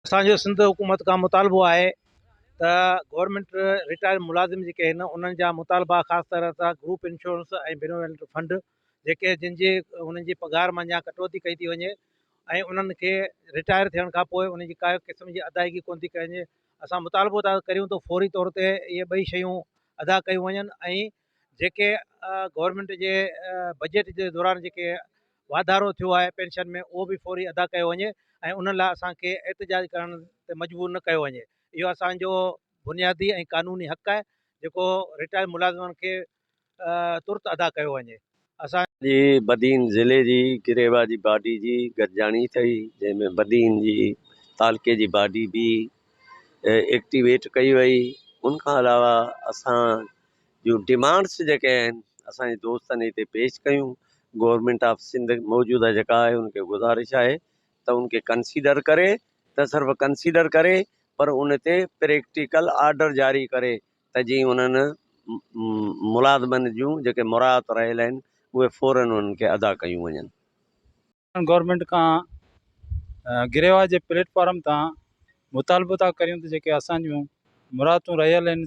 اسان جو سنڌ حڪومت کان مطالبو آهي ته گورنمينٽ رٽائر ملازم جيڪي آهن انهن جا مطالبا خاص طرح سان گروپ انشورنس ۽ بينويلنٽ فنڊ جيڪي جن جي انهن جي پگهار مان يا ڪٽوتي ڪئي ٿي وڃي ۽ انهن کي رٽائر ٿيڻ کان پوء انهن جي ڪا قسم جي ادائيگي ڪونه ٿي ڪئي وڃي اسان مطالبو ٿا ڪريون ته فوري طور تي اهي ٻئي شيون ادا ڪيون وڃن ۽ جيڪي گورنمينٽ جي بجيٽ جي دوران جيڪي واڌارو ٿيو آهي پينشن ۾ اهو به فوري ادا ڪيو وڃي ۽ انهن لاء اسان کي احتجاج ڪرڻ تي مجبور نه ڪيو وڃي اهو اسان جو بنيادي ۽ قانوني حق آهي جيڪو رٽائرڊ ملازمن کي ترت ادا ڪيو وڃي اسان جي بدين ضلعي جي گريوا جي باڊي جي گڏجاڻي ٿئي جنهن ۾ بدين جي تعلقي جي باڊي به ايڪٽيويٽ ڪئي وئي ان کان علاوه اسان جون ڊمانڊس جيڪي آهن اسان جي دوستن هتي پيش ڪيون گورنمنٽ آف سنڌ موجوده جيڪا آهي ان کي گذارش آهي ته ان کي ڪنسيڊر ڪري ته صرف ڪنسيڊر ڪري پر ان تي پريڪٽيڪل آرڊر جاري ڪري ته جيئن انهن ملازمن جون جيڪي مراعات رهيل آهن اهي فورا انهن کي ادا ڪيون وڃن. گورنمينٽ کان گريواج جي پليٽ فارم تان مطالبو ٿا ڪريون ته جيڪي اسان جون مراعتون رهيل آهن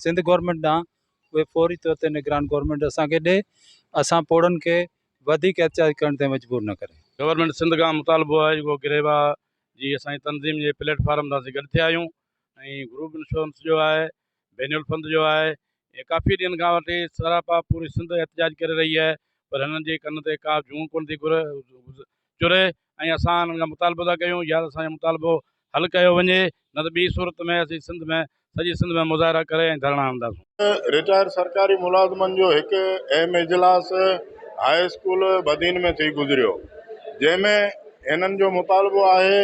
سنڌ گورنمينٽ ڏانهن اهي فوري طور تي نگران گورنمينٽ اسان کي ڏي اسان پوڙهن کي وڌيڪ احتجاج ڪرڻ تائين مجبور نه ڪري. گورنمينٽ سنڌ کان مطالبو آهي جيڪو گريواج جي اسان جي تنظيم جي پليٽ فارم تان اسين گڏ ٿيا آهيون ۽ گروپ انشورنس جو آهي، بينول فند جو آهي ۽ ڪافي ڏينهن کان وٺي سراپا پوري سنڌ احتجاج ڪري رهي آهي پر هنن جي ڪن تي ڪا جونء ڪونه ٿي چري ۽ اسان هنن کان مطالبو ٿا ڪيون يا ته اسان جو مطالبو حل ڪيو وڃي نه ته ٻي صورت ۾ اسين سنڌ ۾ سڄي سنڌ ۾ مظاهرا ڪري ۽ ڌرڻا هڻنداسون. رٽائرڊ سرڪاري ملازمن جو هڪ اهم اجلاس هاء اسڪول بدين ۾ ٿي گذريو جنهن ۾ هنن جو مطالبو آهي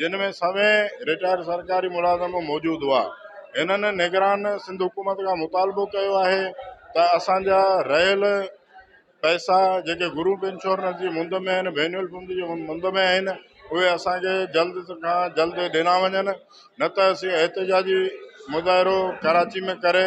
جن ۾ سوين رٽائرڊ سرڪاري ملازم موجود هئا، هنن نگران سنڌ حڪومت کان مطالبو ڪيو آهي ته اسان جا رهيل پئسا جيڪي گروپ انشورنس جي مند ۾ آهن، وينيول فنڊ جي مند ۾ آهن اهي اسان کي جلد کان جلد ڏنا وڃن نه ته اسين احتجاجي مظاهرو ڪراچي ۾ ڪري